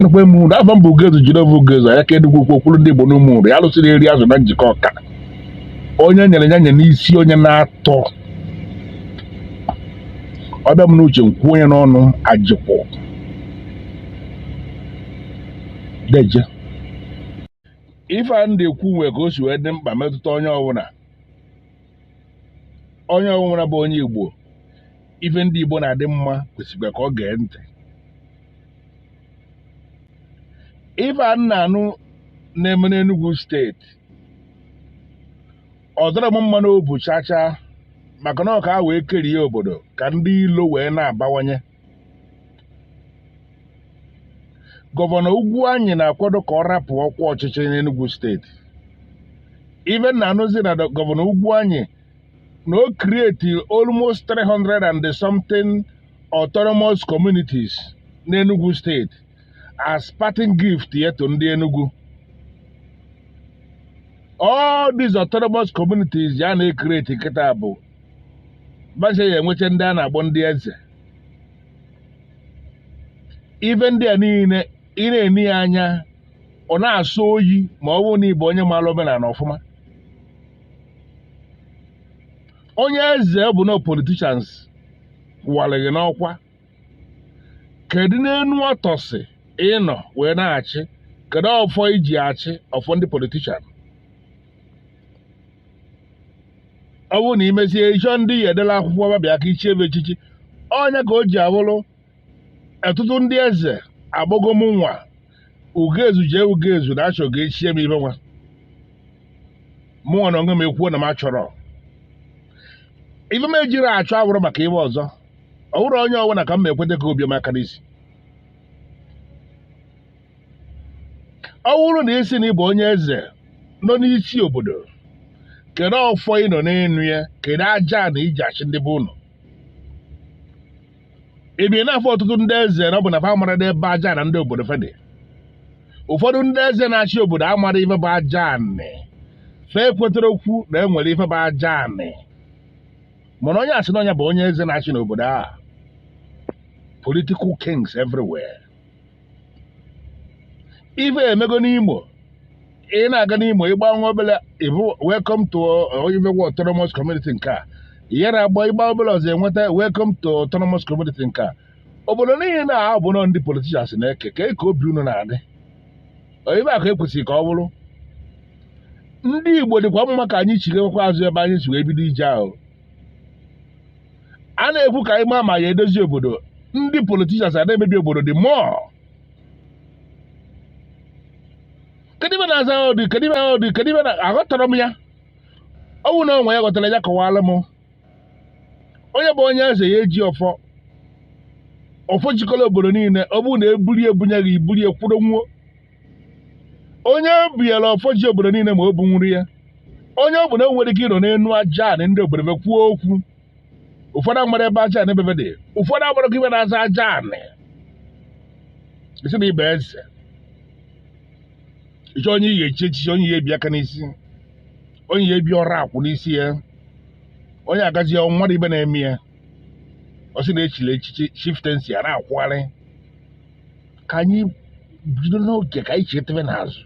nakwa eme uru afa m bụ Ugezu Jideofor Ugezu anya ka edugwu okwu okwuru ndị Igbo n'ụmụ uru ya lụsịrị eri azụ na Njikọka onye nyere ya nye n'isi onye na-atọ ọbịa m n'uche nkwụ onye n'ọnụ ajịkwụ deje ife a ndị ekwu nwe ka o si wee dị mkpa metụta onye ọbụla onye ọbụla bụ onye igbo ife ndị igbo na-adị mma kwesịkwa ka ọ gee ntị ife a na-anụ na-eme n'Enugu steeti ọ dọrọ m mma n'obu chacha maka na ọ ka a wee kerie obodo ka ndị ilo wee na-abawanye gọvanọ Ugwuanyi na-akwado ka ọ rapụ ọkwa ọchịchị n'Enugu steeti ife m na-anụzi na gọvanọ Ugwuanyi na o create almost 300 and something autonomous communities n'Enugu steeti as parting gift ya to ndị Enugu all these autonomous communities ya na-ecreate kịta bụ fa ncha ya-enwecha ndị a na-akpọ ndị eze ife ndị a niile ị na-ene ya anya ọ na-asọ oyi ma ọ bụrụ na ị bụ onye maara omenala ọfụma onye eze ọ bụ na politicians wara gị n'ọkwa kedu n'enu ọtọnsị ị nọ wee na-achị kedu ọfọ i ji achị ọfọ ndị politician ọ bụrụ na i mesịa ị chọọ ndị ya-edelu akwụkwọ fa bịa ka i chie fa echichi onye ka o ji abụrụ ọtụtụ ndị eze akpọgo mụnwa Ugezu J Ugezu na a chọ ka e chie m ife nwa mụnwa na onwe m ekwuo na m achọrọ ife m ejirọ achọ awụrọ maka ife ọzọ ọ bụrọ onye ọbụla ka m ma ekweta ka o bie m aka n'isi ọ bụrụ na ị sị na ị bụ onye eze nọ n'isi obodo kedu ọfọ ị nọ n'elu ya kedu aja anị i ji achị ndị be ụnụ ị bịa na-afụ ọtụtụ ndị eze na ọ bụ na fa amarọdị ebe aja anị ndị obodo fa dị ụfọdụ ndị eze na-achị obodo amarọ ife bụ aja anị fa ekwetarọkwu na e nwere ife bụ aja anị mana onye a sị na nya bụ onye eze na-achị n'obodo a political kings everywhere ife a emego n'Imo ị na-aga n'Imo ị gbaa nwa obele ị fụ welcome to oyimegwu autonomous community nke a yara agba ị gbaa obele ọzọ enweta welcome to autonomous community nke a obodo niile na ahụ bụ nọ ndị politicians na-eke ka ka obi unu na-adị oyibe akụ ekwesịrị ka ọ bụrụ ndị igbo dịkwa mma ka anyị chighakwa azụ ebe anyị si wee bido ije ahụ a na-ekwu ka anyị maa ma a ya-edozi obodo ndị politicians a na-emebi obodo dị mọ kedu ife na-aza ya ụdị kedu ife ya ụdị kedu ife na aghọtarọ m ya ọ bụrụ na o nwee onye ghọtara ya kọwaara m onye bụ onye eze ya-eji ọfọ ọfọ jikọrọ obodo niile ọ bụrụ na e buru ya e bunye gị i buru ya kwụdo nwụọ onye ebiela ọfọ ji obodo niile ma o buru ya onye ọ bụla nwere ike ịnọ n'elu aja anị ndị obodo be kwuo okwu ụfọdụ amarọ ebe aja anị be be dị ụfọdụ amarọzi ife na-aza aja anị ị sị na ị bụ eze ị chọọ onye ị ya-echi echichi onye ị ya-ebi aka n'isi onye ị ya-ebi ọrụ akwụ n'isi ya onye agazi ya mmadụ ife na-eme ya ọ sị na e chiri echichi chieftaincy a na-akwụgharị ka anyị bido n'oge ka anyị chetebe n'azụ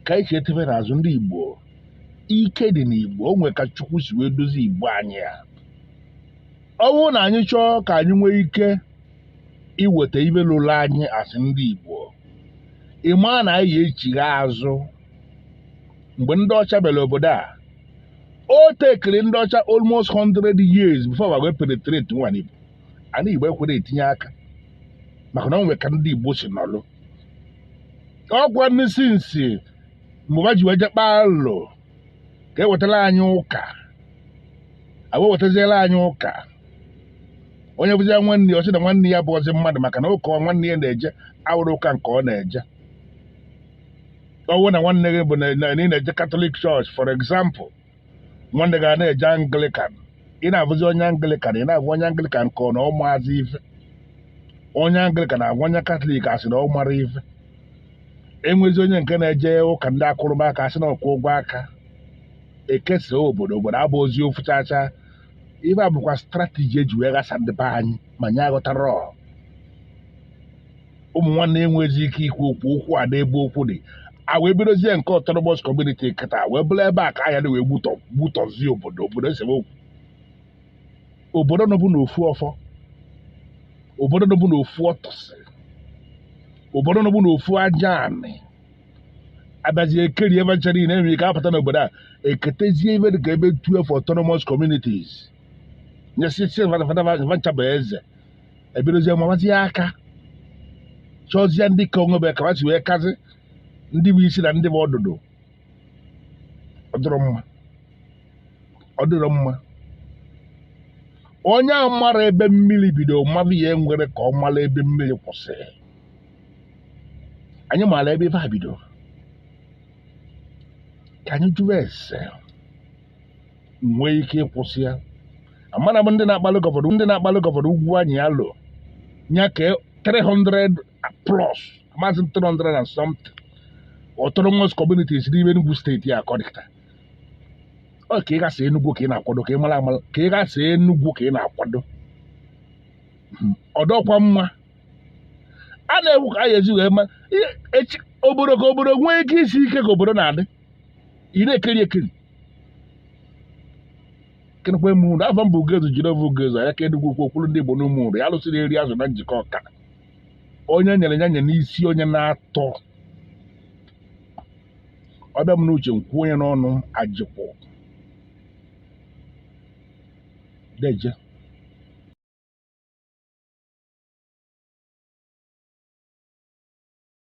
ka anyị chetebe n'azụ ndị Igbo ike dị n'Igbo o nwere ka Chukwu si wee dozie Igbo anyị a ọ bụrụ na anyị chọọ ka anyị nwee ike iweta ife luru anyị as ndị Igbo ị maa na anyị ya-echigha azụ mgbe ndị ọcha bịara obodo a o tekiri ndị ọcha almost 100 years before ba wee penetrate nwuo anị Igbo anị igbo ekwerọ etinye aka maka na o nwere ka ndị igbo si nọlụ ọkwanụ since mgbe ha ji wee je kpaa alụ ka e wetara anyị ụka e wee wetaziere anyị ụka onye fụzia nwanne ya ọ sị na nwanne ya abụrọzi mmadụ maka na ụka nwanne ya na-eje awụrọ ụka nke ọ na-eje ọ wụ na nwanne gị bụ na na ị na-eje Catholic church for example nwanne gị ana-eje Anglican ị na-afụzi onye Anglican ị na-afụ onye Anglican ka na ọ marọzi ife onye Anglican agwa onye Catholic asị na ọ marọ ife e nwezie onye nke na-eje ụka ndị akụrụba aka asị na ọkwụ ụgwọ aka e kesaa obodo obodo abụrọzi ofu chacha ife a bụkwa strategy e ji wee ghasa ndị be anyị ma anyị aghọtarọ ụmụ nwanne enwezi ike ikwu okwu okwu a n'ebe okwu dị a wee bidozie nke autonomous community kịta wee bụrụ ebe a ka a ya-eji wee gbutọ gbutọzie obodo obodo esemokwu obodo nọbu n'ofu ọfọ obodo nọbu n'ofu ọtọsị obodo nọbu n'ofu aja anị a bịazie ekeri be ncha niile e nwere ike apụta n'obodo a eketezie ife dị ka ife 12 autonomous communities ndị isi va ncha bụ eze e bidozie mawazie aka chọzie ndị ka onwe be ka ha si wee kazi ndị bụ isi na ndị bụ ọdụdụ ọ dịrọ mma ọ dịrọ mma onye amarọ ebe mmiri bido maba ya enwerọ ka ọ mara ebe mmiri kwụsịrị anyị maara ebe ife a bido ka anyị jụọ ese nwee ike ịkwụsị ya amara m ndị na-akpalụ gọvanọ ndị na-akpalụ gọvanọ Ugwuanyị ya lo ya ka 300 plus ma a sị 300 and something autonomous communities n'ime Enugu steeti a kọdịta ọ ka ị gasị Enugu ka ị na-akwado ka ị mara amara ka ị gasị Enugu ka ị na-akwado ọ dịkwa mma a na-ewu ka a ga-esi wee mee obodo ka obodo nwee ike isi ike ka obodo na-adị ị na-ekiri ekiri ekenekwa m ụnụ afa m bụ ugezu jideọfọ ugezu anya ka enugwu ukwu okwuru ndị igbo n'ụmụ ụlọ ya lụsịrị eri azụ na njikọka onye nyere ya nye n'isi onye na-atọ ọ bịa m n'uche m kwuo nya n'ọnụ ajịkwụ deje